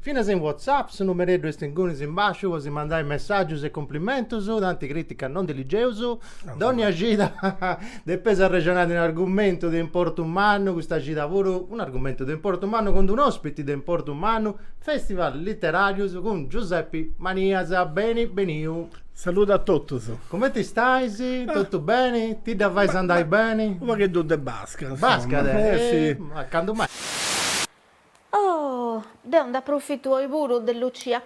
Finas in WhatsApp su numereddu est ingunis in basciu po si mandai messàgius e cumplimentus, tanti crìticas non ndi ligeus, dònnia cida depeus arrexonai de un'argumentu de importu mannu, custa cida puru un'argumentu de importu mannu cun d'unu òspiti de importu mannu, Festival Literàrius cun Giuseppi Manias, beni beniu. Saludu a totus. Cumenti stais? Totu beni? Ti dda fais andai beni? Unu pagheddu de basca, insoma. Basca, eh! Candu mai. Oh! Deu nd'aprofitu oi puru de Lucia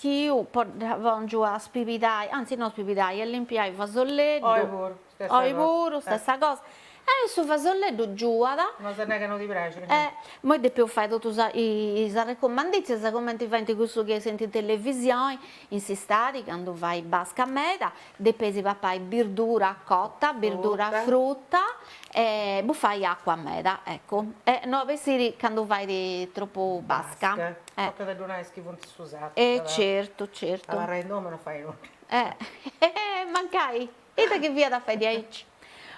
Chiu puru dda pòngiu a spibidai, anzi no spibidai, a limpiai fasolleddu. Oi puru, stessa cosa. Oi puru, stessa cosa. E su fasolleddu giuat. No as a nai ca no ti praxit. E imoi depeus fai totu sa is arrecumandìtzias cumenti faint cussus chi essint in televisioni, in s'istadi candu fait basca meda, Depis papai birdura cota, birdura fruta e bufai acua meda, eccu, e no a bessiri candu fait tropu basca. Basca, tocat a ddu nai a is chi funt in su sartu. E certu, certu. Abarrai in domu e no fai nudda. Eh, mancai, ita chi fiat a fai diaici.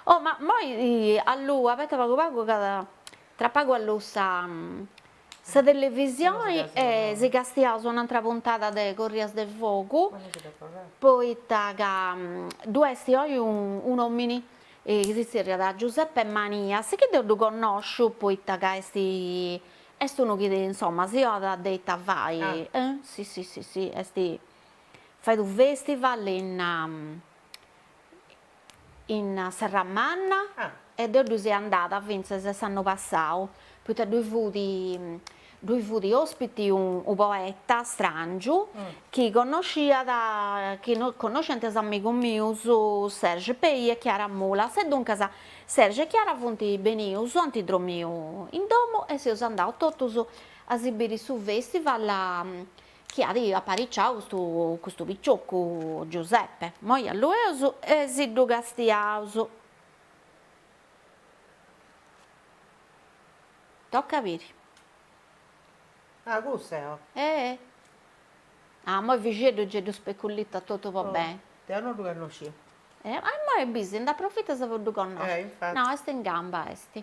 Oh, ma moi a luegu, abeta pagu pagu, ca tra pagu alluus sa Sa televisioni si castiaus un'antra puntada de Corrias de Fogu poita ca ddu est oi un'omini chi si zerriat Giuseppe Manias chi deu ddu connosciu poita ca est est unu chi insomma si donat de ita fai e si si si si est fait unu festival in in Serramanna e ddoi seu andada fintzas s'annu passau, poita ddoi fut ddoi fut ospiti unu poeta strangiu chi connosciat chi no connosciant is amigus mius Serge Pey e Chiara Mulas e duncas Serge e Chiara funt benius ant dromiu in domu e seus andaus totus a si biri su festival chi at apariciau custu custu picioccu Giuseppe, moi allueus e si ddu castiaus. Toca a biri. Ah cussu est. Eeh. Ah moi Fixeddu gei ddu speculitat totu po beni. Deu no ddu connoscia. E immoi bis nd'aprofitas po ddu connosci. Eh infatti. No est in gamba est.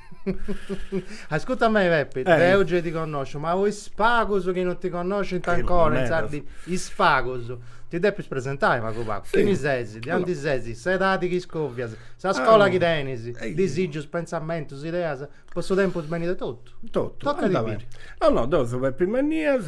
Ascurta a mei Peppe, eh. deu giai ti connòsciu, ma po is pagus chi non ti connoscint ancora, insaras, is pagus. Ti depis presentai pagu pagu. Sì. Chini sesi, de aundi sesi, s'edadi chi scovias, sa ah. scola chi tenis, Ehi. disigius, pensamentus, ideas, po su tempus benit e totu. Totu. Toca a biri. No no, deu seu Peppe Manias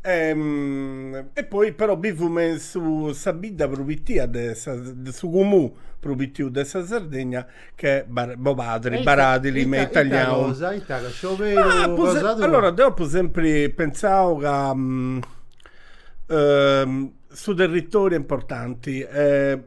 E poi però bivu me su sa bidda prus pittia de sa de su cumù prus pittiu de sa Sardegna ch'est Bar- Bobadri, Baradili me italianu. Ita cosa, ita cosa, scioberu Ma apu cosa se- tua? allora deu apu sempri pentzau ca su territoriu est importanti e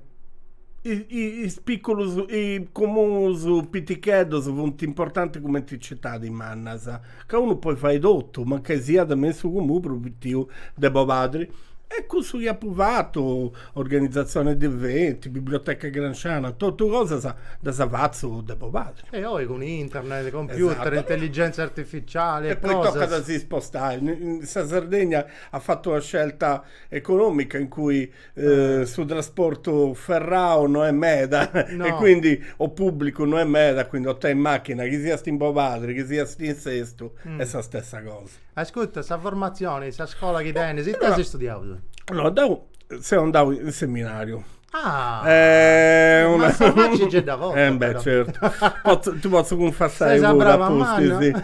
i- i- is picculus i cumus piticheddus funt importanti cumenti is citadis mannas ca unu podit fai totu, mancai siat me in su comunu prus pitiu de Bobadri. E cussu chi apu fatu, organizatzione de eventi, biblioteca gramsciana, totu cosas ddas fatzu de Bobadri. E oi cun internet, computer, intelligenza artificiali e cosas. E poi tocat a si spostai. Sa Sardegna at fatu una scelta economica in cui Eh, su trasportu ferrau no est meda no. e quindi o pubblicu no est meda, quindi o tenis macchina chi siast in Bobadri chi siast in Sestu mm. est sa stessa cosa. Ascutta, sa formazioni, sa scola chi tenis, ita as studiau tu? No, deu seu andau in seminariu. Ah, eh, una... ma sa facci ce dda portas. Eh beh, certo. Pot, ti potzu cunfessai puru a tui, sì.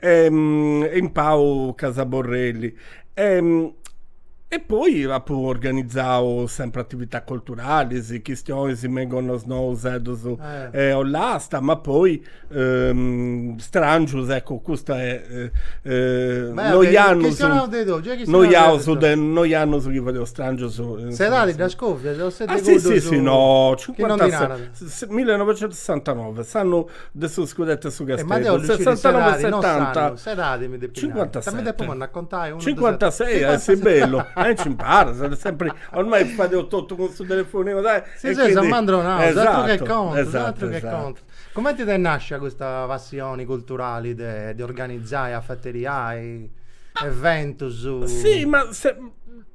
e in Pau Casa Borrelli e poi apu organizau sempri atividadis culturalis, chistionis me in Gonnosnò, Useddus e Ollasta, ma poi Strangius, eccu custa est noi annus, noi annus de, noi annus chi fadeus Strangius. S'edadi dda scovias o ses de cuddus. Ah si si si no, millinovecentusessantanove, s'annu de su scudettu 'e su Casteddu, sessantanove e setanta, cincuantaseti, cincuantases, sì, bellu, e nci imparas, sena sempri, ormai fadeus totu cun su telefoninu, dai, e quindi, esatto, esatto, esatto. Cumenti t'est nascia custa passioni culturali de organizai, afateriai eventus? Si ma se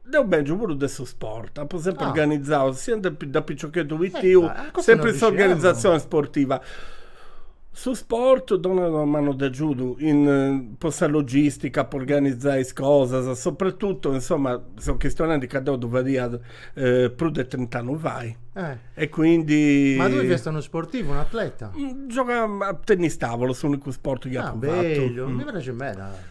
Deu bèngiu puru de su sport, apu sempri organizau, sia de de piciocheddu pitiu, sempri sa organizatzioni sportiva. Su sport donat una manu de agiudu in po sa logistica, po organizai is cosas, soprattuttu, insomma, seu chistionendi ca deu ddu fadia prus de trint'annus fait e quindi. Ma tui fiasta unu sportivu, un'atleta? Giogà a tennis tavolo, s'unicu sport chi apu fatu. Ah, bellu, mi praxit meda.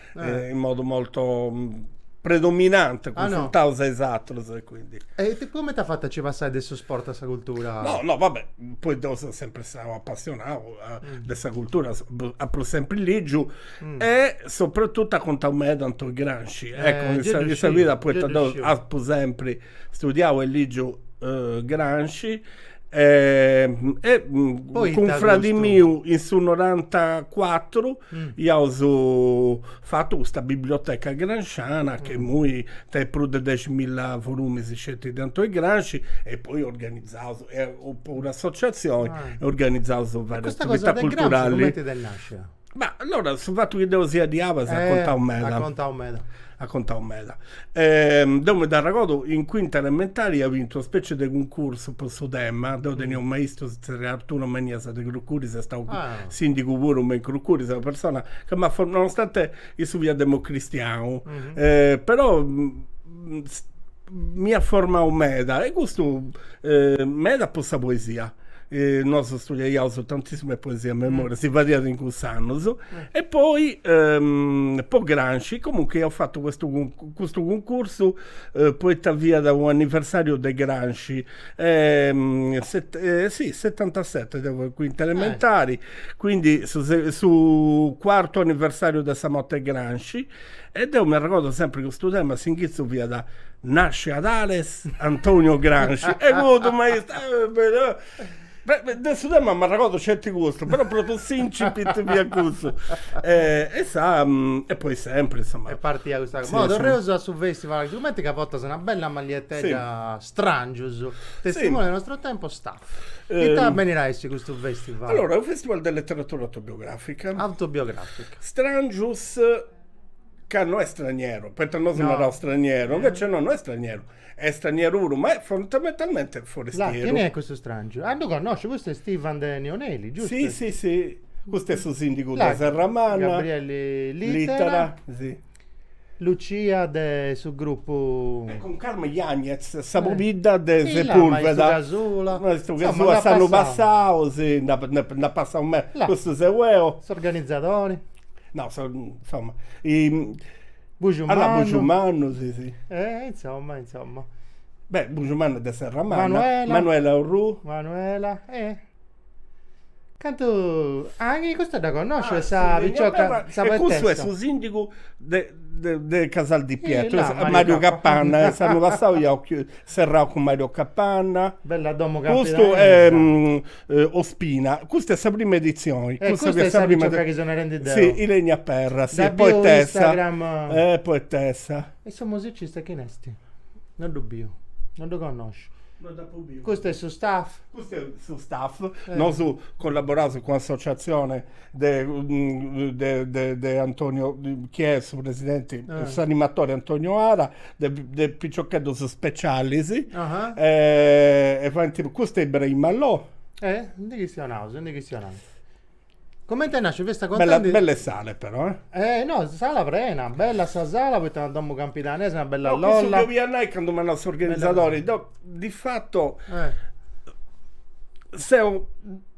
in modu molto predominante cunfruntaus a is atrus e quindi. E cumenti as fatu a nci passai de su sport a sa cultura? No no va bè, poi deu seu sempri istau apassionau de sa cultura, apu sempri ligiu e soprattutto at contau meda Antoni Gramsci, ecco in sa vida, poita deu apu sempri Studiau e lìgiu Gramsci e cun fradi miu in su norantacuatru iaus fatu custa biblioteca gramsciana chi imui tenit prus de deximilla volumis sceti de Antoni Gramsci e poi organizaus e puru associatzioni e organizaus varie attività culturali. E custa cosa de Gramsci cumenti t'est nàscia? Ma allora su fattu chi deu sia de Abas at contau meda. At contau meda. At contau meda. deu mi dd'arregordu in cuinta elementari ia bintu una specie de cuncursu po su tema, deu tenia unu maistu si zerriat Arturo Manias de Crucuris, est stau sindigu puru me in Crucuris, est una persona ca m'at formau, nonostante issu fiat democristianu, però m'iat formau meda e custu meda po sa poesia Nosu studiaiaus tantissime poesie a memoria, si fadiat in cuss'annus, e poi po Gramsci comunque iaus fatu custu custu cuncursu poita fiat u' anniversariu de Gramsci e si setantaseti deu fia in cuinta elementari, quindi su su cuartu anniversariu de sa morti 'e Gramsci E deu m'arregordo sempri custu tema, s'inghitzu fiat, Nasce ad Ales Antonio Gramsci, e cuddu maistu De su tema m'arregordo sceti custu, però propriu s'incipit fiat custu. E sa e poi sempri insomma. E partiat custa cosa. Torreus a su festival, sigumenti ca portas una bella magliettedda Stràngius, testimoni del nostro tempo, Staff. Ita benit a essi custu fèstival? Allora, est unu fèstival de leteratura autobiogràfica. Autobiogràfica. Stràngius ca no est straniero, poita nosu naraus straniero, invece no, no est straniero, est straniero puru, ma est fondamentalmente forestieru. Là, chini est custu stràngiu? Ah, ddu connosciu, custu est Ivan de Neoneli, giustu? Si, si, si, custu est su sìndigu de Serramanna. Gabriele Littera. Littera, si. Lucia de su grupu. E cun Carmen Yañez sa pobidda de Sepulveda. Maistu Casula. S'annu passau, si, nd'at passau meda. Custu seu eo. S'organizadori. No, insomma. Bujumannu. Bujumannu, si, si. E insomma, insomma. Beh, Bujumannu est de Serramanna. Manuela. Manuela Orrù. Manuela e. Cantu. Ah, chi custa dda connosciu, est sa picioca, sa poetessa. E cussu est su sìndigu de de Casal di Pietro, Mario Capanna, s'annu passau iaus serrau cun Mario Capanna. Bella domu campidanesa. Custu est Ospina, custa est sa prima editzioni. E custa est sa picioca chi seu narendi deu. Si, Ilenia Perra, poetessa. Dda biu in Instagram. Poetessa. E su musicista chini est? Non ddu biu, non ddu connosciu. No dd'apu biu. Custu est su staff? Custu est su staff, nosu collaboraus cun s'associatzioni de de Antonio, chi est su presidenti, s'animatori Antonio Ara, de de piciocheddus specialis, e faint, custu est Ibrahim Allò. E ndi chistionaus, ndi chistionaus Comente nascit festa. Belle sale però eh. Eh no, sala prena, bella sa sala poita una domu campidanesa, una bella lolla. No, cussu chi 'olia nai candu m'at nau s'organizadori, deu di fatu seu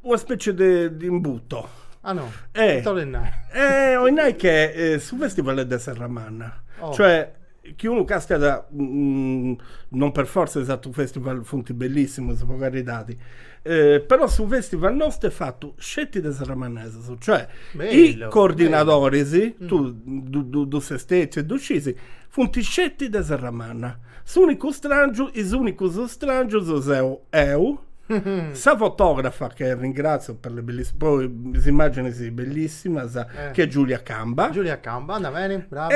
una specie de de imbuto. Ah no, ita 'olit nai. Eh 'olit nai che su festival est de Serramanna, cioè Chiunque, cosa chi non per fortza is atrus festival funt bellissimus po caridadi, però su festival nostu est fatu sceti de serramannesus, cioè i coordinadoris, tu ses stetiu e ddu scisi, funt sceti de serramanna. S'unicu strangiu, is unicus strangius seu eu, sa fotografa che ringrazio per le bellissime, po is immagini bellissimas, che est Giulia Camba. Giulia Camba, andat beni, brava.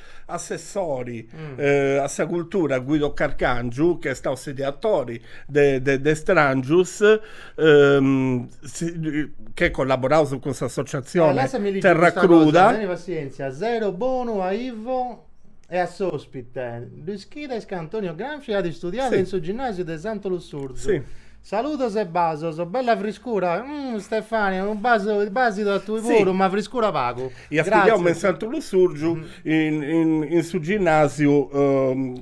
Assessori a sa cultura Guido Carcangiu chi est stau s'ideatori de Strangius che collaboraus cun s'associatzioni Terra Cruda. Teni passientzia, zero bonu a Ivo e a s'ospite. Lu ischides ca Antonio Gramsci at istudiadu in su ginnasiu de Santu Lussurzu. Saludos e basos, bella friscura, umm Stefania unu basidu a tui puru, ma friscura pagu. Iat studiau me in Santu Lussurgiu in su ginnasiu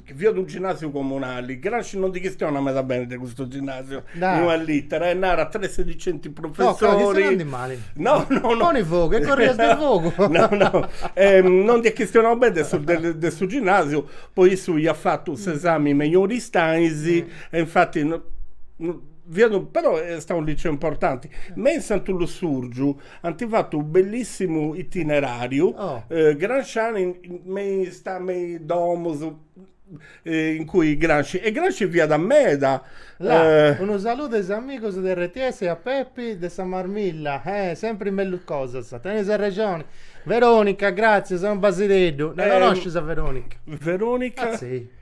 chi fiat unu ginnasiu comunali, Gramsci non ndi chistiona meda beni de custu ginnasiu, in una littera e narat tre sedicenti professori, no no no, poni fogu e corrias de fogu, no no non nd'at chistionau beni de su ginnasiu poi issu iat fatu s'esami mejori istais E infati no, no, fiat un, però est stau unu liceu importanti. Me in Santu Lussurgiu ant fatu unu bellissimu itineràriu, eh, gramsciani, me is, me is domus, eh, in cui Gramsci, e Gramsci fiat meda. La, eh, unu saludu a is amigus de rts e a Pepi de sa Marmilla, eh, sempri mellus cosas, tenis arrexoni. Veronica, gratzias, unu basideddu. Dda eh, connoscis a Veronica? Veronica? Ah, sì.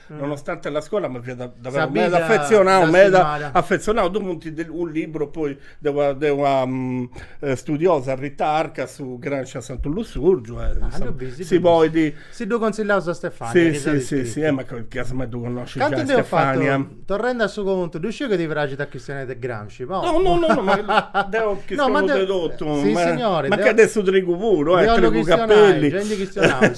nonostante la scola ma fiat davvero meda affezionau, meda affezionau, ddu funt unu liburu poi de una de una studiosa Rita Arca su Gramsci a Santu Lussurgiu e si podit, si ddu consillaus a Stefania, si si si e ma che as mai ddu connosci giai Stefania. Cantu nd'eus fatu, torrendi a su contu, ddu sciu chi ti praxit a chistionai de Gramsci, po. No no no ma deu chistionu de totu, ma che de su trigu puru, trigu capelli. Gei ndi chistionaus.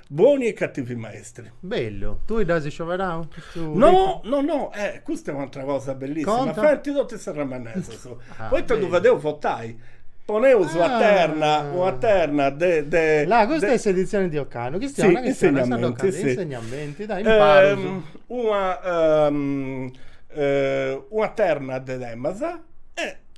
Boni e cativi maestri. Bellu, tui dd'as scioberau? No, no, no, eh, custa est un'atra cosa bellissima, Conta. faint totu is serramannesas, Ah, poita ddu bellu. fadeus votai, poneus una Ah. terna, una terna de de Là, custa de- est s'editzioni de ocannu, chi Sì, unu insegnamenti, sì. insegnamenti, dai, imparus. una una terna de temas e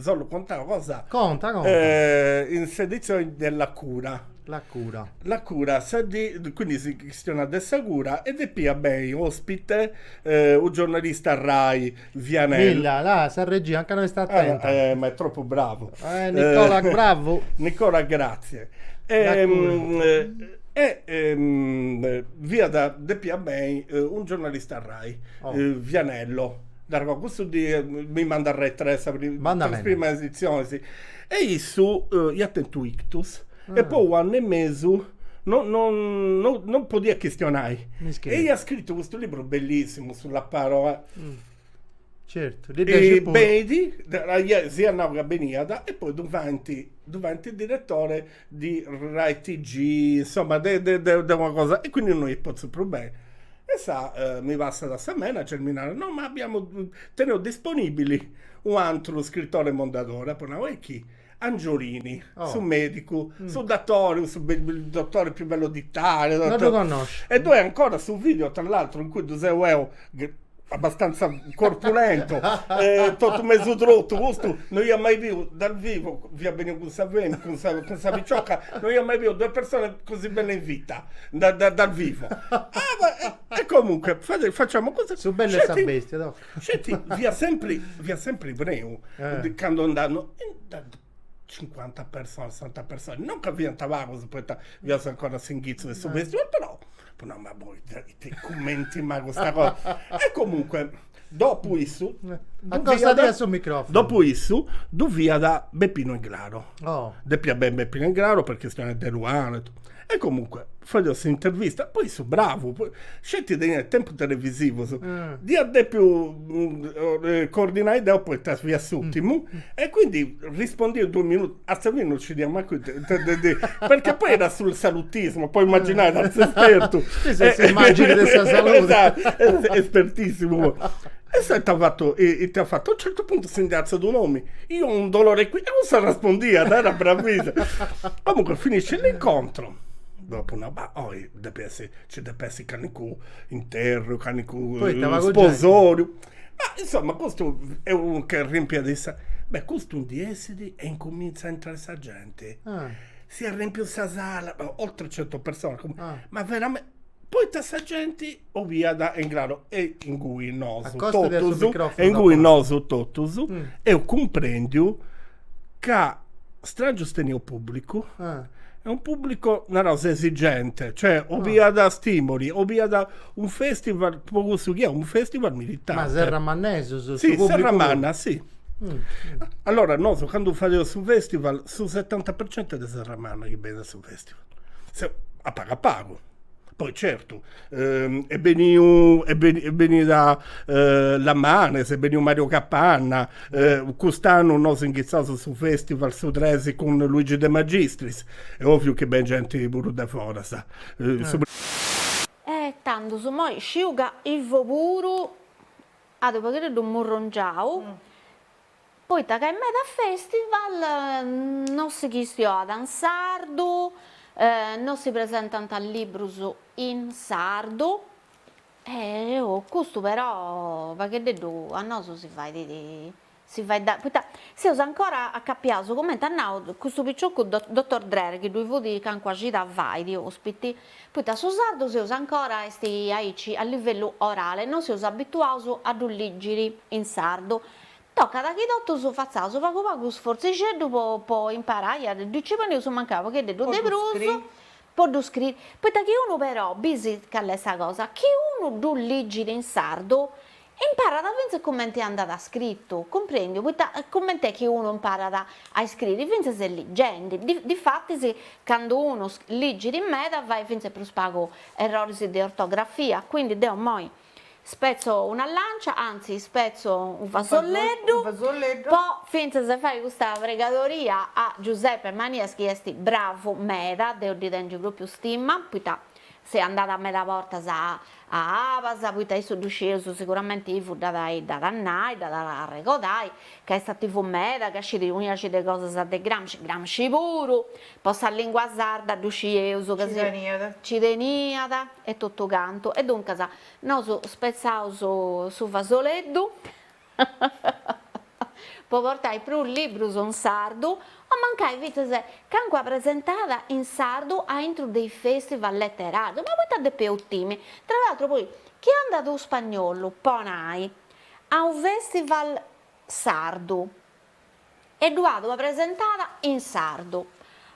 Solu contau cosa. Conta conta. in s'edizioni de La cura. La cura. La cura, sa dì, quindi si chistionat de sa cura e depiat beni ospite u' giornalista Rai, Vianello. Milla, là, sa regia ancora no est attenta. Eh, ma è troppo bravo. Eh, Nicola, bravo. Nicola, grazie. La cura. E fiat, depiat beni u' giornalista Rai, Vianello. Nargo, custu dia mandai Rai tre sa prima editzioni, si. E issu iat tentu ictus e po unu annu e mesu no no no podiat chistionai. E iat scritu custu liburu bellissimu, sulla parola. Certu, ddi praxit puru. Benit, si iat nau ca beniat e poi ddu faint, ddu faint diretore di rai TG insomma de de de de una cosa e quindi no est pòtziu prus benni e mi passat a sa manager mi narat no ma abbiamo teneus disponibili u'antru scrittore mondadore apo nau e chi Angiolini su medicu su datori su dottore più bellu d'Italia no ddu connosciu e ddoi ancora su video tra l'altro in cui ddu seu eo abbastanza corpulento, eh, totu mesu trotu, custu no iat mai biu dal vivo, fiat beniu cun sa femi, cun sa, cun sa picioca, no iat mai biu due persone così belle in vita, da, da, dal vivo. Ah, ma, e, e comunque, fate, facciamo così. Su bello e sa Sceti- bestia, toh. Sceti, fiat sempri, fiat sempri preu, Eh. de- cando andà, no, e da- cincuanta personas, sessanta personas, non ca fiant pagus poita fiaus ancora s'inghitzu 'e su festival, però apu nau, ma poita cumenti mai custa cosa, e comunque dopu issu Accostadia su microfono Dopu issu ddu fiat Beppino Englaro, depia benni Beppino Englaro po chistioni de Eluana E comunque, fadeus s'intervista, poi su bravu, sceti teniat tempus televisivus, dd'iat depiu coordinai deu poita fiat s'ùrtimu, e quindi rispondiat duus minutus, a sa fini non scidia mancu ita ddi diri, perchè poi era su salutismo, poi imaginai a s'espertu, espertissimu, e s'est fatu, ita at fatu, a un certu puntu si ndi artzat un'omini, Io ho un dolore qui. E cussu arrespondiat, era bravissimo. Comunque finisce l'incontro, dopo una ba- oi depia essi, ci depia essi calincunu interru, calincunu Poita pagu genti. sposoriu. Ma insomma custu est unu che rimpiat is. Beh, custu ndi essit e incuminzat a intrai sa genti. Ah. S'est arrempiu sa sala, oltre cento personas, Ah. ma verame Poita sa genti obiat, est in craru, e ingui nosu totus, e ingui nosu totus, eus cumprendiu ca Strangius teniat unu pubblicu, est unu pubblicu, naraus, esigente, cioè obiat stimoli, obiat unu festival, est po cussu chi est unu festival militante. Ma serramannesus, su pubblicu. Si, serramanna, si. Allora nosu candu fadeus su festival, su setanta per cento est de Serramanna chi benit a su festival a pagu a pagu, poi certu est beniu est beni benida Lamanes, est beniu Mario Capanna cust'annu nosu inghitzàus su festival su tres cun Luigi de Magistris, est oviu chi beni genti puru de foras E tandus immoi sciu ca Ivo puru at u' pagheddeddu murrongiau Poita ca in meda festival non si chistioat in sardu, non si presentant librus in sardu e custu però pagheddeddu a nosu si fait si fait dannu poita seus ancora acapiaus coment'at nau custu picioccu dottor Drer chi ddui fut calincuna cida fait ospite Poita su sardu seus ancora est aici a livellu orale, no seus abituaus a ddu lìgiri in sardu. Tocat chi totus fatzaus pagu pagu sforzixeddu po po imparai a ddu ci poneus mancai u' pocheddeddu de prus po ddu scriri, poita chi unu però, bisi call'est sa cosa, chi unu ddu lìgiri in sardu, Imparat fintzas cumenti andat scritu, cumprendiu, poita cumenti est chi unu imparat a iscriri, fintzas est ligendi, difatis candu unu ligit meda fait fintzas prus pagu erroris de ortografia, quindi deo immoi spetzo una lancia, anzi ispetzo unu fasolleddu, po fintzas fai custa pregadoria a Giuseppe Manias chi est bravu meda, deo ddi tengiu propriu stima, poita Seu andada meda bortas a a abas, poita issu ddu scieus siguramenti Ivo dd'at a dd'at a nai, dd'at a arregodai, ca est ativu meda, ca scit unu jaxi de cosas de Gramsci, Gramsci puru, po sa lingua sarda ddu scieus ca ci teniat e totu cantu, e duncas nosu spetzaus su fasoleddu, po portai prus librus in sardu, o mancai fintzas calincuna presentada in sardu aintru de is festival leterarius, ma poita depeus timi, tra l'atru poi, chi andat u' spagnollu, po nai, a u' festival sardu? e ddu at ua presentada in sardu,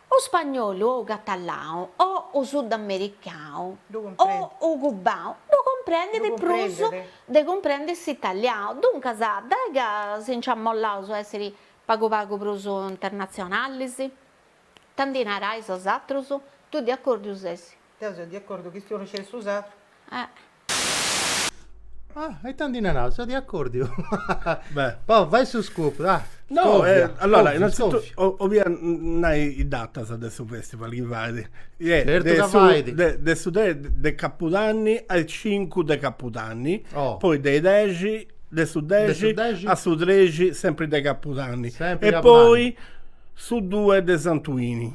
u spagnolu o u catalau o u sudamericau o u cubau ddu cumprendit prus de cumprendiri s'italiau, duncas dai ca si nci amollaus a essiri pagu pagu prus internatzionalis? Ita ndi narais bosatrus? Tui de acòrdiu ses? Deu seu de acòrdiu ca istimu non sceti su sardu. Ah, e tanti ndi naràs, seu de acòrdiu. Beh. Poi fai su scoop, ah. No, Scòvia, eh, allora, scòvia, innanzitutto scòvia. o- 'olia nai is datas de su festival chi fait. Eh, Certu de ca su- fait. de- de su tres de capudanni a is cincu de capudanni. Oh. Poi de is dexi, de su De dexi. su dexi. A su trexi, sempri de capudanni. Sempri E capudanni. poi su due de santuini.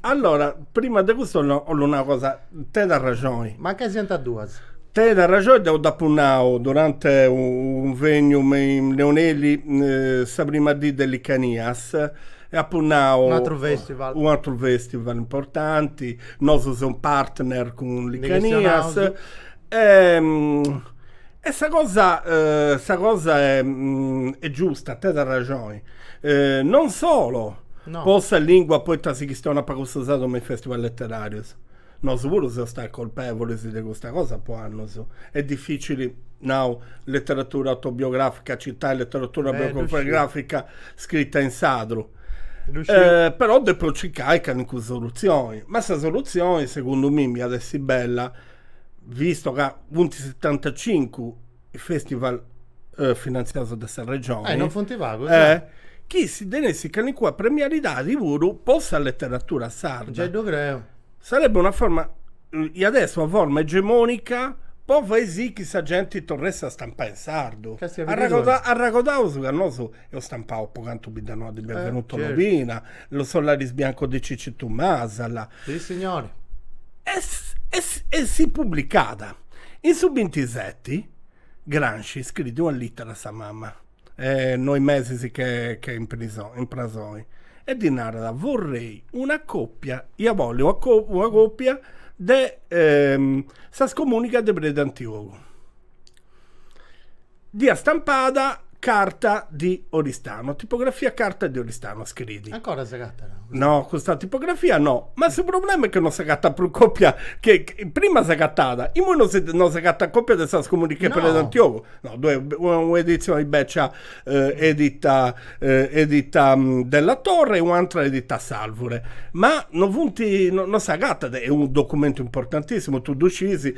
Allora, prima de custu 'ollu nai una cosa, tenit arraxoni. Mancai siant a duas. Tenit arraxoni, deu dd'apu nau durante unu cunvegnu me in Neoneli sa prima dì de Licanias e apu nau. Un'atru festival. Un'atru festival importanti, nosu seus partner cun Licanias. Ndi chistionaus. E sa cosa sa cosa est giusta, tenit arraxoni, non solo po sa lìngua poita si chistionat pagu su sardu me is fèstival leteràrius, nosu puru seus stai colpèvulis de custa cosa po annus, est dificili nau leteratura autobiogràfica citai leteratura autobiogràfica scrita in sardu, però depu circai calincuna solutzioni, ma sa solutzioni segundu mimi iat essi bella visto ca funt setantacincu is festival eh, finanziaus de sa regioni. Eh, non funt pagus, eh, eh. chi si tenessit calincuna premialidadi puru po sa leteratura sarda. Giai ddu creu. Sarebbe una forma, eh, iat essi una forma egemonica po fai sì chi sa genti torressit a stampai in sardu. Ca esti a biri duas. Arragoda- arragodaus ca nosu eus stampau Po cantu Biddanoa di Benvenuto eh, Lobina, Los, Sos laribiancos di Cicitu Masala. Sì, signori. E, e, e si pubblicàt. In su 27 Gramsci scriit una littera a sa mamma, eh, noi mesis ch'est, ch'est in, prison, in prasoi, e ddi narat vorrei una copia, ia bolli una, co, una copia de eh, Sa scomunica de Predi Antiogu. Dd'iat stampada Carta di Oristano, tipografia Carta di Oristano, scriit. Ancora s'agatat? No, custa tipografia no, ma su problema est chi no s'agatat prus còpia, prima s'agatàt, imoi no si no s'agatat còpia de Sa scomunica de Predi Antiogu. No, ddoi est un'editzioni bècia edita edita Della Torre e un'atra edita S'Alvure, ma no funt no s'agatat, est unu documentu importantissimu, tui ddu sciis,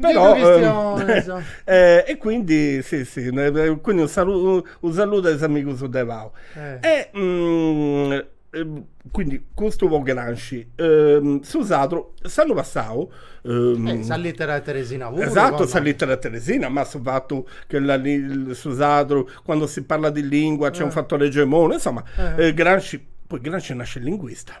Però, e quindi si si quindi u saludu a is amigus de pau e quindi custu po Gramsci su sadru s'annu passau sa littera 'e teresina puru esatto sa littera 'e teresina ma su fatu che la su sadru quando si parla di lingua c'è un fattore egemone insomma Gramsci poi Gramsci nasce linguista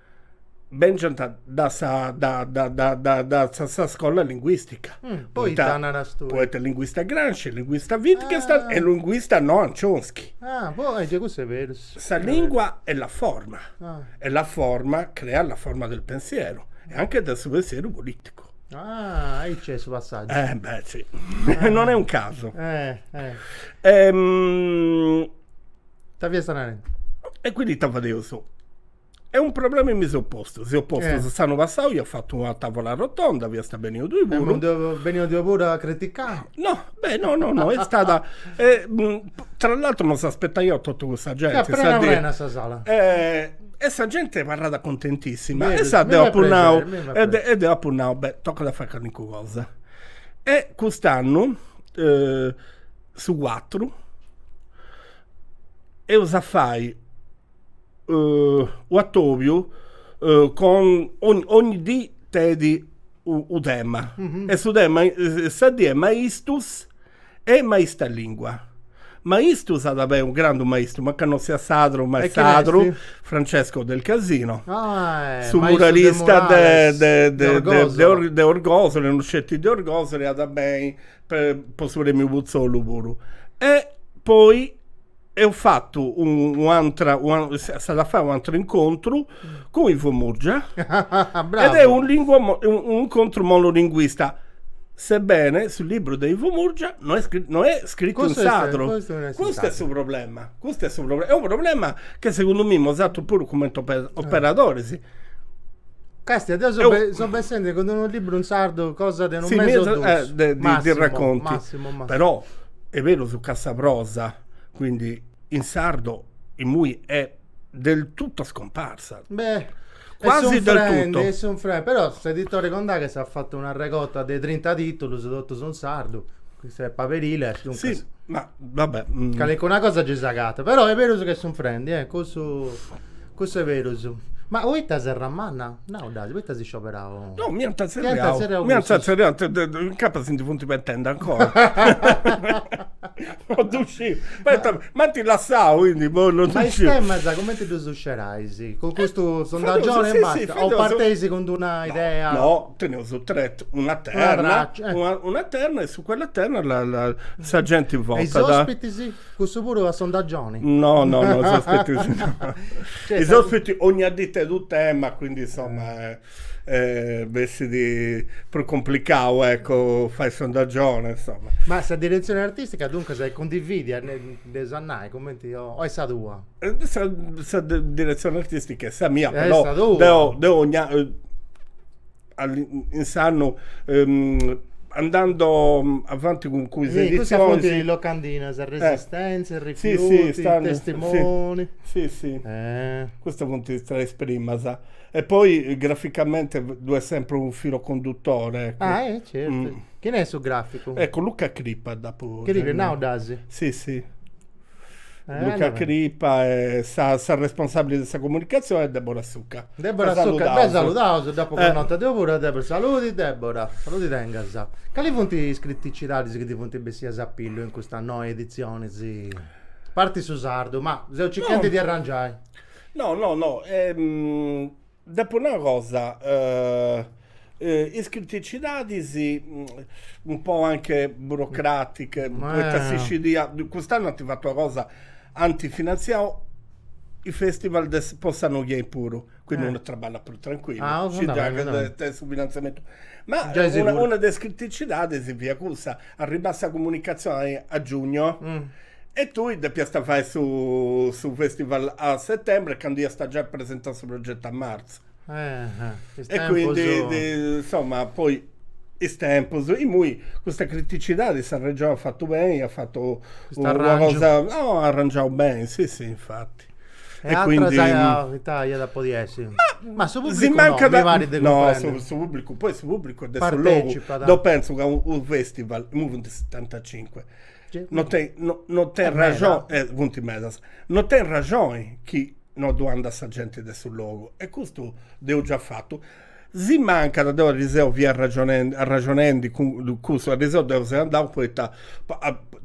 Benint dae sa dae sa scola linguìstica. Poita naras tue? Poita linguista Gramsci, linguista Wittgenstein e linguista Noam Chomsky. Ah, boh, eje custu est berus. Sa lingua è la forma e la forma crea la forma del pensiero e anche de su pensieru politicu. Ah, aici est su passàgiu. Eh beh, sì. Non è un casu. Ita fiasta narendi? E quindi ita fadeus? E un problema mi seu postu, seu postu eh. s'annu passau ia fatu una tavola rotonda, fiasta beniu tui puru. Beniu tui puru a criticai? No, beh, no, no, no, est stata tra l'altro non s'aspettaiaus totu custa genti. Fiat prena prena sa sala. E e sa genti abarrat contentissima e sa deu apu nau e de e deu apu nau, beh, tocat a fai calincuna cosa. E cust'annu su su cuatru eus a fai U'atòbiu con ogni dì tenit unu tema e su tema sa dì est maistus e maista lìngua. Maistus at a beni unu grandu maistu, mancai non siat sadru ma est sadru, Francesco Del Casino, su muralista de de Orgosole, non sceti de Orgosole, at a beni po su premiu Putzollu puru. E poi Eus a fai un'atra, s'at a fai un'atru incontru cun Ivo Murgia ed è un incontru monolinguista, sebbene su libru de Ivo Murgia no est no est scritu in sadru, custu est su problema, custu est su problema, est unu problema che segundu mie mos at puru comente operadoris. Castia, deo so bessende cun unu libru in sardu cosa de unu mese o dus, massimu, massimu, massimu. est berus ca sa prosa, quindi in sardo, imui è del tutto scomparsa. Beh, quasi est del tutto. Est sunfrendi, però s'editore Condaghes at fatu una regota de trinta titulus totus in sardu, custa est Paberiles, duncas. Sì, ma va bè. Calincuna cosa gei s'agatat, però est berus ca est sunfrendi, eh, cussu Cussu est berus. Ma poita Serramanna? Nau diasi, poita as scioberau? No, mi ant tzerriau, mi ant tzerriau, incapas si ndi funt pentendi ancora. No ddu sciu, poita m'ant lassau, quindi po no ddu sciu. Ma is temas cumenti ddus scerais? Cun custu sondagioni e basta o parteis cun d'una idea? No, teneus una terna, una terna e su cuella terna sa genti votat. E is ospitis? Cussu puru a sondagioni? No, no, no, is ospitis no. Cioè, is ospiti donniunu tenit u' tema, quindi insomma eh, bessit prus complicau, ecco, fai sondagioni, insomma. Ma sa diretzioni artistica duncas est cundividia, diaus a nai, cumenti, o est sa tua? Sa, sa diretzioni artistica est sa mia, però, deu, deu ogni a insandus andando avanti cun is editzionis si, locandinas, resistentzia, rifiuti, testimoni si si custas funt is tres primas e poi graficamente ddu est sempri unu filu conduttore ah eh certu chini est su graficu eccu Luca Crippa dd'apu, Crippa, nau diasi si si Luca Crippa e sa, sa responsabili de sa comunicazione est Debora Succa. Debora Succa, be', saludaus, dd'apu connota deu puru a Debora. Saludi Debora, saludi tengas. Cali funt is criticidadis chi ti funt bessias a pillu in custa noa editzioni, a parti su sardu, ma seu circhendi de arrangiai. No no no Deppo nai una cosa, is criticidadis un po anche burocratiche, poita si scidia, cust'annu ant fatu una cosa, ant finanziau is festival de po s'annu chi benit puru, quindi unu traballat prus tranquillu, scidia ca tenit su finanziamentu, ma una de is criticidadis fiat cussa Arribat sa comunicatzioni a giugnu e tui depiast fai su su festival a settembre candu iast giai presentau su progetu a martzu. Is E quindi tempus. di- insomma poi is tempus, imui custa criticidadi sa Regioni at fatu beni, at fatu Custu una arrangiu. cosa, no, arrangiau beni, si si infati. E atras ita aiat a podi essi? Ma su pubblicu no, mi parit de cumprendi. No, su pubblicu, poi su pubblicu est de su logu. Deu pentzu ca unu festival, imui funt setantacincu, non tenit non tenit ragioni, e funt medas, non tenit ragioni chi non ddu andat sa genti de su logu e custu de una parti Si mancat, deu arriseu fia arraxonendi arraxonendi cun cussu, arriseu deu seu andau poita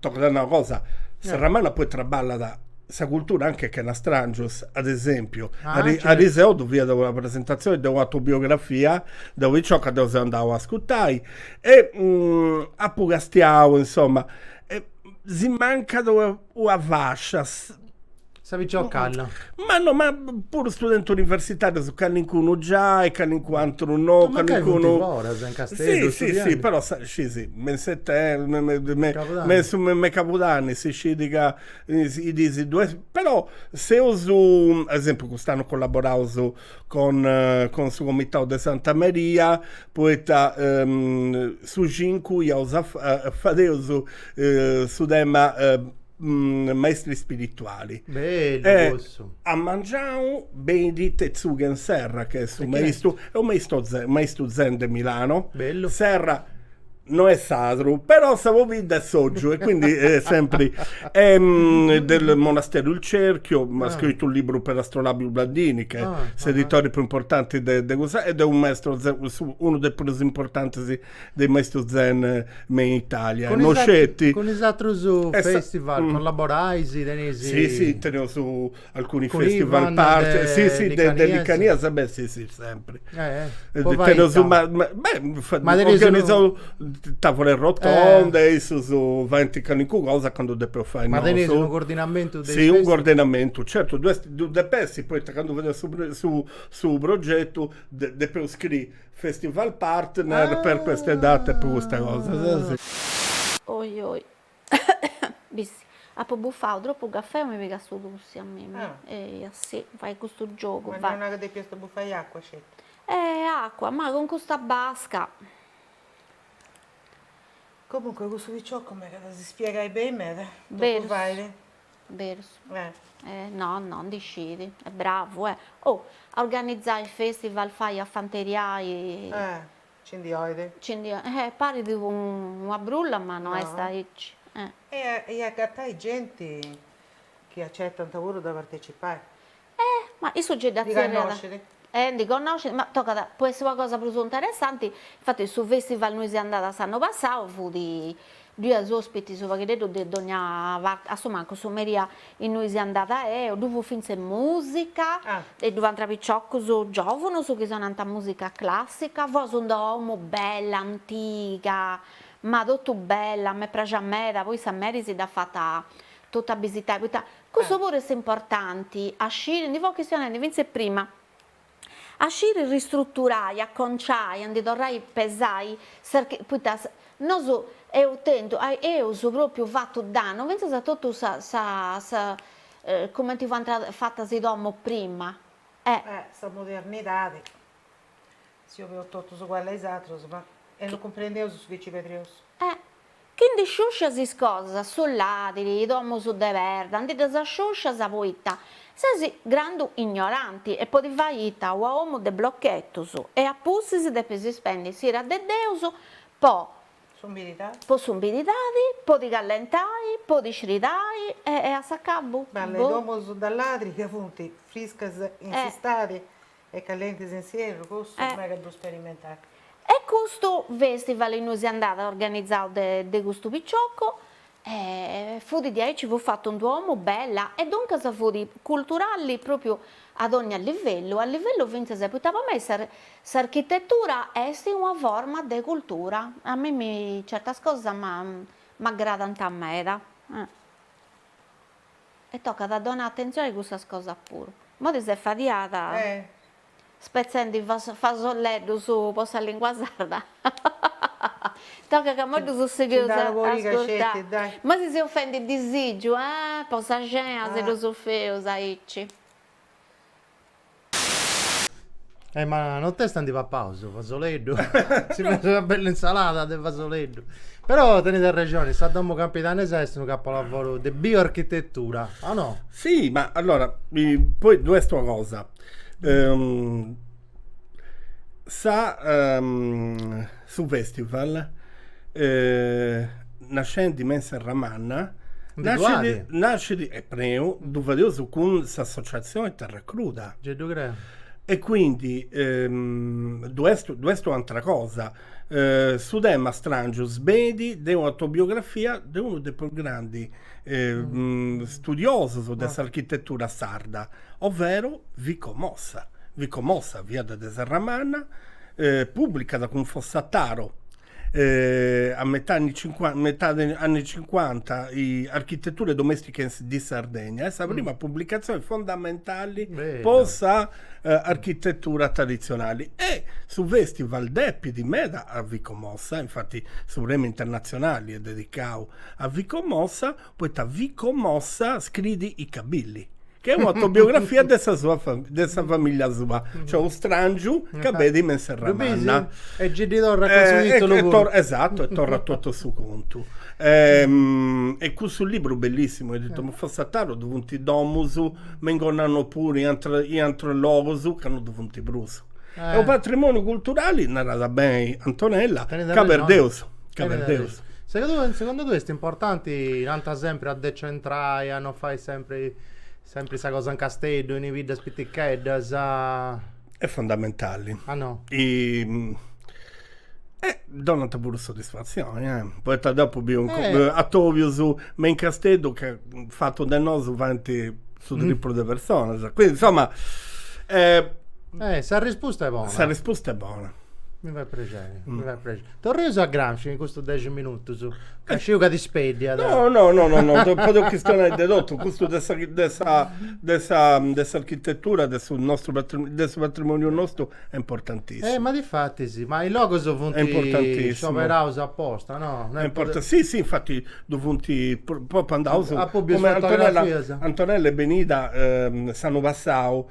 tocat a nai una cosa, Serramanna poi traballat a sa cultura anche chena strangios, ad esempiu, arriseu ddu fiat una presentatzioni de una autobiografia, de u' picioca, deu seu andau a ascurtai e apu castiau insoma, si mancat una fascia Sa piciocca calla. Ma no, ma puru studentus universitarius callincunu già e callincu antru no, Ma mancai funt callincunu foras in Casteddu, Sì, sì, sì, però sa, scisi, me in setem, me me me me Cabudanni. me in su me me cabudanni si scit ca is dis ddu est, però seus, ad esempiu cust'annu collaboraus con con su comitau de Santa Maria poita su cincu iaus a fa fadeus su tema maestri spirituali. Bellu e cussu. A mangiau benit Tetsugen Serra che est su maistu, est u maisto ze, maistu zen de Milano. Bellu. Serra no est sardu, però sa pobidda est Soggiu e quindi est sempri del monastero Il Cerchio, ma ha scrittu un libru per Astrolabio Ubaldini ch'est s'editore più importante de de cussa ed est u maestro zen, unu de prus importantes de is maestus zen me in Italia e no sceti. Cun is atrus festival collaborais, tenis. Si si teneus alcuni festival partner, si si de Licanias beh si si sempri. Po fai ita? Ma tenis unu. Tavole rotonde, issus faint calincuna cosa candu depeus fai nosu. Ma tenis unu cordinamentu de is festival? Si unu cordinamentu, certu ddu est, ddu dep'essi poita candu fadiaus su su progetu depeus scriri Festival partner per queste date po custa cosa. Oi oi Bissi apo bufau tropu cafè o mi pigat su tussi a mimi eia si fait custu giogu fai. Ma non est ca depiast bufai acua sceti. Eh acua ma cun custa basca. Comunque cussu piciocu mi at a si spiegai beni meda totu fait. berus no no ndi scit est bravu e oh a organizai festival fai a fanteriai ci ndi oit ci ndi oit eh parit una brulla ma no est aici e agatai genti chi acettant puru de partecipai E ma issu nci dda tzerriat, e ndi connoscit, ma tocat, po essi una cosa prus interessanti, infatis su festival innui seu andada s'annu passau fut, ddu iat ospitis u pagheddeddu de dogna parti, a su mancu su merì innui seu andada eo, ddu fut fintzes musica, e ddu fuant piciocus giovunus chi sonànt musica classica, fut una domu bella antiga, ma totu bella, m'est praxia meda, poi sa Meri si dd'at fata totu abisitai, poita Cussu puru est importanti a sciri, ndi fut chistionendi fintzes prima, a sciri ristruturai, a conciai, a ndi torrai pesai, poita nosu eus tentu, eus propriu fatu dannu fintzas a totu sa, sa, cumenti fuant fatas i domus prima. Sa modernidadi, si 'obiaus totus uguallis a is atrus, ma e no cumprendiaus su chi ci perdiaus. Chi ndi sciuscias is cosas de su ladiri, i domus de perda, ndi ddas sciuscias poita ses grandu ignoranti e po ti fai ita una domu de blochetus e a pustis depis ispendi s'ira de Deus po po s'umididadi, po ti callentai, po ti sfridai e a s'acabu, boh. Bella, is domus de ladiri ca funt friscas in s'istadi E callentis in s'ierru custu megas de ddu sperimentai. E custu festival innui seu andada organizau de de custu piciocu e fudi diaici fut fatu in d-una domu bella e duncas fudi culturali propriu a dogna livellu, a livellu finzas poita po mei sa s'architetura esti una forma de cultura, a mei mi certas cosas m'aggradant meda. E tocat a donai atentzioni a cussas cosas puru. Moi ti ses fadiada? Eh! Spetzendi fasolleddus po sa lingua sarda. Tocat ca moi ddus sigheus a ascurtai. Moi ti si ofendit disìgiu? Ah! Po sa cena si ddus feus aici. Eh, ma non t'est andi papau su fasoleddu? Si fait una bella insalata de fasoleddu. Però tenet arrexoni, sa domo campidanesa est unu capolavoro de bioarchitettura, o no? Sì, ma allora, poi ddu est una cosa. Um, sa... Um, Su festival, nascendi in Serramanna, nascit e peròu ddu fadeus cun s'associatzioni Terra Cruda. E quindi ddu est ddu est u'antra cosa. Su tema Strangius benit de un'autobiografia de unu de is prus grandi studiosus de s'architetura sarda, ovvero Vico Mossa. Vico Mossa fiat de Serramanna pùblicat cun Fossataro a metade anni cincuanta Architetture domestiche in Sardegna, est sa prima pubblicazione fondamentali po sa architettura traditzionali e su festival depit meda a Vico Mossa, infati su premi internatzionali est dedicau a Vico Mossa, poita Vico Mossa scriit I cabilli Chi est un'autobiografia de sa sua de sa famìllia sua, cioè unu stràngiu ca benit me in Serramanna. E gei ddi torrat cun su tìtulu puru. Esatu, e torrat totu a su contu. E cussu liburu bellìssimu, editu mai Fossataru, ddu funt is domus, me in Gonnanò puru, in in aterus logus ca non ddu funt prus. Est unu patrimòniu culturali, narat beni Antonella, ca perdeus. Caberdeus. Segundu tui est importanti, nant sempri a decentrai, a non fai sempri sempri sa cosa in Casteddu, in is biddas piticheddas? Est fundamentali. Ah no. Eh donant puru soddisfatzioni eh, poita deu apu biu atobius me in Casteddu ca fatu fatu de nosu faint su triplu de personas, quindi insomma. Eh sa rispusta est bona. Sa rispusta est bona. Mi fait prexeri, mi fait prexeri Torreus a Gramsci in custus dexi minutus, ca sciu ca t'ispeddiat. No, no, no, no, no, podeus chistionai de totu, custu de sa de sa de sa de s'architetura de su nostru de su patrimoniu nostu est importantissimu. Eh, ma difatis, ma is logus funt scioberaus aposta, no? Est impor. Si, si, infatis ddu funt propriu andaus, cumenti Antonella Antonella est benida s'annu passau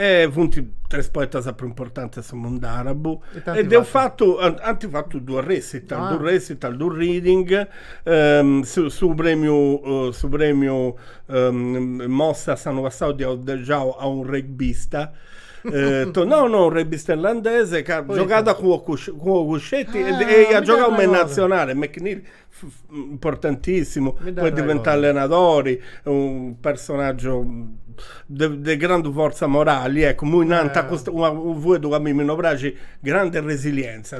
E funt tres poetas prus importantis de su mundu àrabu. E eus fatu, ant fatu duas recital, duas recital, duas reading, su premiu, su premiu Mossa s'annu passau dd'eus giau a unu rugbista, no no, unu rugbista irlandese ca giogàt cun Cucchetti e iat giogau me in natzionali, McNeil importantissimu poi diventau allenadori unu personaggio de grandu forza morali ecco immoi nanta custu fueddu ca a mimmi no praxit grande resilienza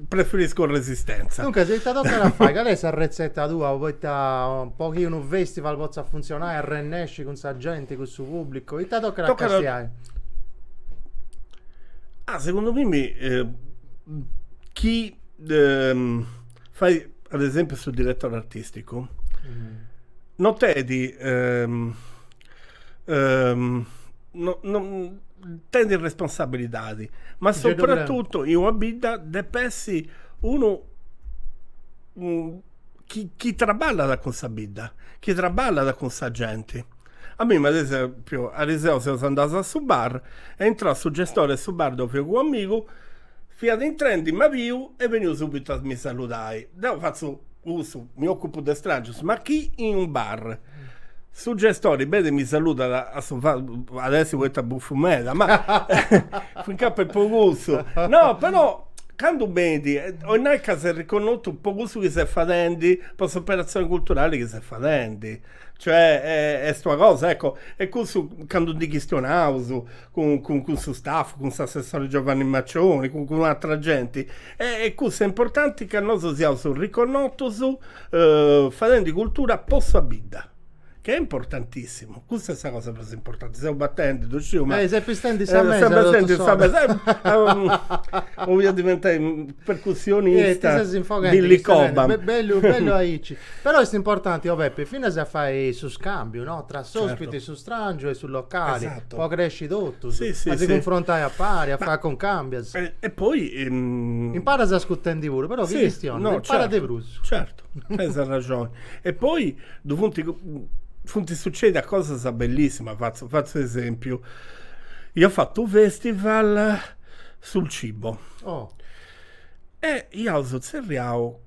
preferisco resistenza duncas ita tocat a fai cali est sa retzeta tua poita po chi unu festival potzat funtzionai arrennesci cun sa genti cun su pubblicu ita tocat a castiai Ah segundu mimmi chi fait ad esempiu su direttori artisticu no tenit no no tenit responsabilidadi ma soprattuttu in una bidda dep'essi unu chi chi trabballat cun sa bidda chi trabballat cun sa genti A mimmi, ad esempiu, ariseu seus andaus a su bar est intrau su gestore 'e su bar deu femu cun amigu, fiat intrendi m'at biu est beniu subitu a mi saludai. Deu fatzu cussu, mi ocupu de strangius, ma candu in unu bar. Su gestori benit e mi saludat at a essi poita bufu meda, ma fincas po cussu. No, però candu benit, 'olit nai ca ses riconnotu po cussu chi ses fadendi, po s'operatzioni culturali chi ses fadendi Cioè est una cosa, ecco, e cussu candu ndi chistionaus cun cun cussu staff, cun s'assessore Giovanni Maccioni, cun cun atra genti, e cussu est importanti ca nosu siaus riconnotus fadendi cultura po sa bidda, ca est importantissimu, cussa est sa cosa prus importanti, seus batendi, ddu sciu, ma. Eh ses pistendi sa mesa totu s'ora. Sa mesa, 'olia diventai percussionista Billy Cobham. Be- bellu, bellu aici. Però est importanti, o oh Peppe, finas a fai su scambiu, no? Tra s'ospiti, certo. su strangiu e su locali. Esatto. Po cresci totus. Sì, sì, a si sì. confrontai a pari, a Ma, fai cuncambius. E, e poi... Ehm... Imparas ascutendi puru, però sì, chi chistionas, imparas certo, de prus. Certu, tens arraxoni. e poi ddu funt funt sucedidas cosas bellissimas, fatzu fatzu esempiu. Ia fatu u' festival su su cibo. Oh. E iaus tzerriau,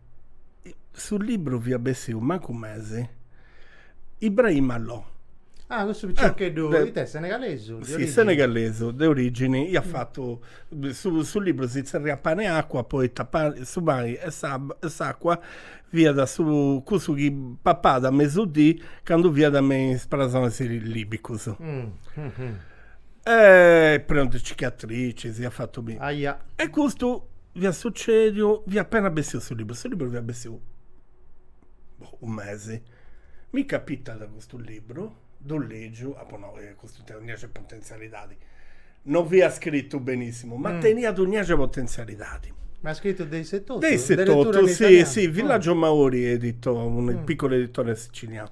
su libru fiat bessiu mancu mesi, Ibrahima Lo. Ah, cussu piciocheddu, ite, senegalesu? Si, senegalesu, de origini, iat fatu, su su libru si tzerriat Pane e acqua poita pani su pani e e s'acqua fiat su cussu chi papat a mesu dì candu fiat me is presonis libicus. Eh, est prenu de cicatricis, si iat fatu biri. Aia. E custu fiat sucediu, fia appena bessiu su liburu, su liburu fiat bessiu boh u' mesi. Mi capitat custu liburu, ddu legiu, apu nau, eh custu tenit unu diaxi 'e potenzialidadi. No fiat scritu benissimu, ma teniat unu diaxi 'e potenzialidadi. Ma scritu de isse totu? De isse totu, si, si, Villagio Mauri editor, unu piccolo editore siciliano.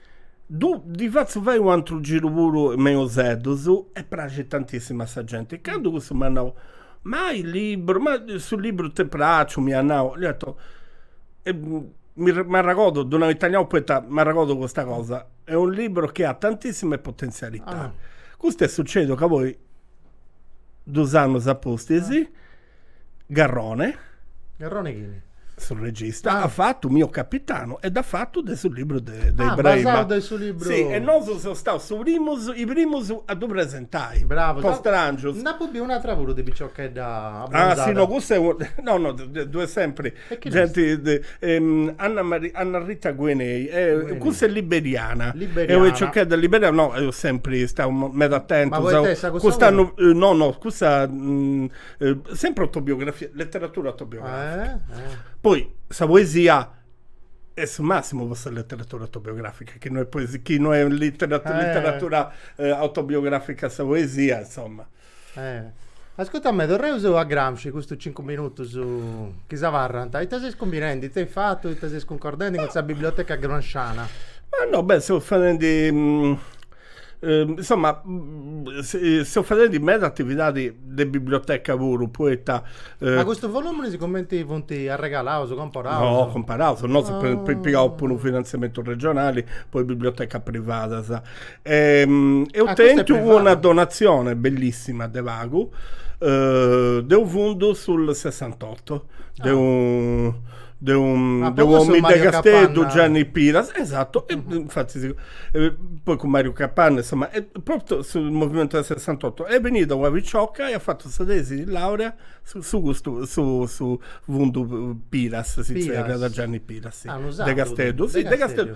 Ddu ddi fatzu fai u'antru giru puru me Useddus e praxit tantissimu a sa genti. E candu cussu m'at nau, Ma su liburu, ma su liburu t'est praxu, m'iat nau, dd'ia atotu, e mi m'arregordu, ddu nau in italianu poita m'arregordu custa cosa, est unu liburu chi at tantissima potenzialità. Custu est sucediu ca poi, dus annus apustis, Garrone. Garrone chini? su regista, ah. at fatu Mio Capitano e dd'at fatu de su libru de, de ah, Ibrahima. de su libru. Sì, e nosu seus staus su primus, i primus a ddu presentai. Bravo. Po Strangius. Nd'apu biu un'atra puru de piciochedda abbronzada. Ah, si no, cussa est, no, no, ddui est sempri. Anna Maria Anna Maria Gehnyei cussa est liberiana e piciochedda liberiana no seu sempri stau meda atentu cust'annu no no cussa sempri autobiografia letteratura autobiografica poi sa poesia est su massimu po sa letteratura autobiografica ca no est poesia chi no est letteratura autobiografica sa poesia insomma Ascurta mi, torreus a Gramsci, custus cincu minutus chi si abarrant, ita ses cumbinendi, ita as fatu, ita ses cuncordendi cun sa biblioteca gramsciana? Ma no, beh, seus fadendi, insoma, seus fadendi meda atividadi de biblioteca puru, poita. Ma custus voluminis cumenti funt arregalaus, comparaus? No, comparaus, nosu eus pigau puru u' finantziamentu regionali po is bibliotecas privadas. Ehm, eus Ah, custa est tentu privada. una donatzione bellissima de pagu eh, de unu fundu sul Sessantotto, de un de un Ah, de po cussu u'omini de Mario Casteddu, Capanna. Gianni Piras, esatto, e infattis eh, poi cun Mariu Capanna, insomma, propriu sul movimentu del Sessantotto, est bennida una picioca e at fatu sa tesi di laurea su su custu su su fundu Piras, si Piras. zerriat Gianni Piras, si, Ah, unu sardu, de Casteddu, si, de Casteddu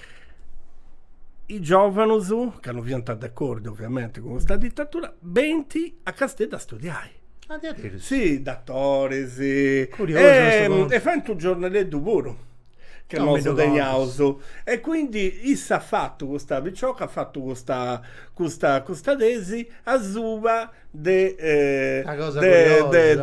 is giòvanus, ca no fiant d'acordi oviamenti cun custa ditatura, benint a Casteddu a studiai. Ah, diaderus? Si, datoris. Curiosu. E faint unu giornaleddu puru, ca nosu teneus. E quindi issa at fatu, custa picioca at fatu custa custa custa tesi asuba de de Una cosa curiosa.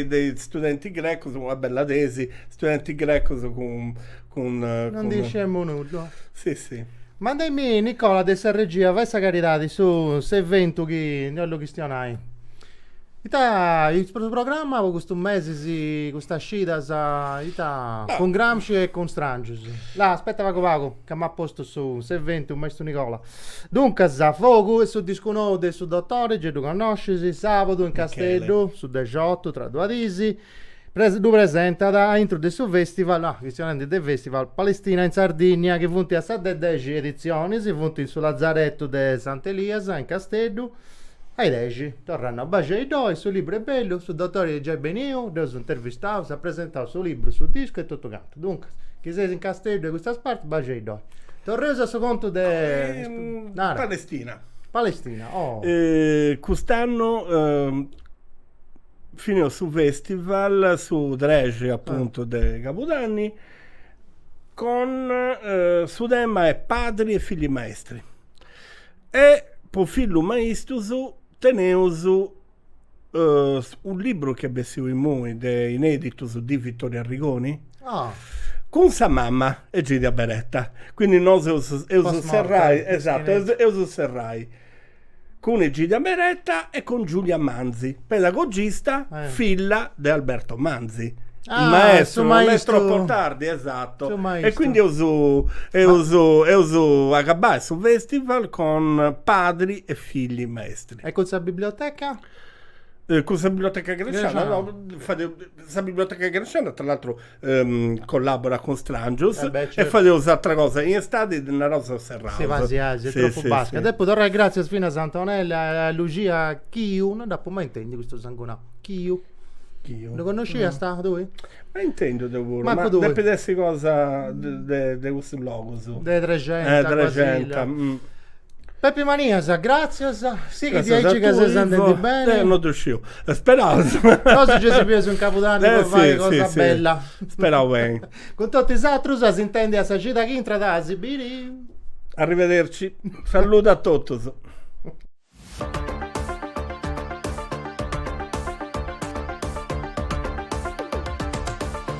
dei studenti grecus, una bella tesi, studentis grecus cun cun non cun... diciamo nudda sì sì manda mi Nicola de sa regia fai sa caridadi su s'eventu chi ndi 'ollu chistionai ita est su programma po custu mesi si custas cidas ita cun Gramsci e cun Strangius là aspetta pagu pagu ca m'at postu su s'eventu maistu Nicola duncas fogu est su discu nou de su Dottore Gieddu connoscis sabadu in Casteddu su dexiotu tra duas dis ddu presentat a intru de su festival, ah chistionendi de festival, Palestina in Sardinnia chi funt a sa de dexi editzionis, funt in su Lazaretu de Sant'Elias in Casteddu, a is dexi, torrendi a baxei ddoi, su libru est bellu, su dotori est giai beniu, ddu eus intervistau, s'at presentau su libru, su discu e totu cantu, duncas, chi seis in Casteddu de custas partis baxei ddoi. Torreus a su contu de, nara. Palestina. Palestina, oh. Cust'annu fineus su festival su trexi apuntu de cabudanni cun su tema 'e padri e figli maestri e po fillus maistus teneus u' libru chi est bessiu imui de ineditus de Vittorio Arrigoni cun sa mama Egidia Beretta quindi nosu eus eus serrai esattu eus eus serrai cun Egidia Beretta e cun Giulia Manzi, pedagogista, filla de Alberto Manzi, su maestru, non è troppo tardi, esatto, e quindi eus a agabbai su festival cun padri e figli maestri. E cun sa biblioteca? Cun sa biblioteca Gramsciana, no, sa biblioteca Gramsciana tra l'altro Collabora cun Stràngius e fadeus ateras cosas in istadi naraus seus serraus. Si pasiaus, est tropu basca. Depu torrai gratzias finas a Antonella e a Lucia Chiu, non dd'apu mai intendiu custu sangunau, Chiu. Chiu. Ddu connosciast tui? Mai intendiu deu puru. Mancu tui. Ma depit essi cosa de custus logus. De Trexenta, Basile. Pepi Manias, gràtzias, sighi diaici ca ses andendi beni. Non ddu sciu, speraus. Nosu gei si bius in Cabudanni po fai cosa bella. Speraus beni. Cun totu is atrus a s'intendi a sa cida chi intrat a si biri. Arrivederci. Salludu a totus.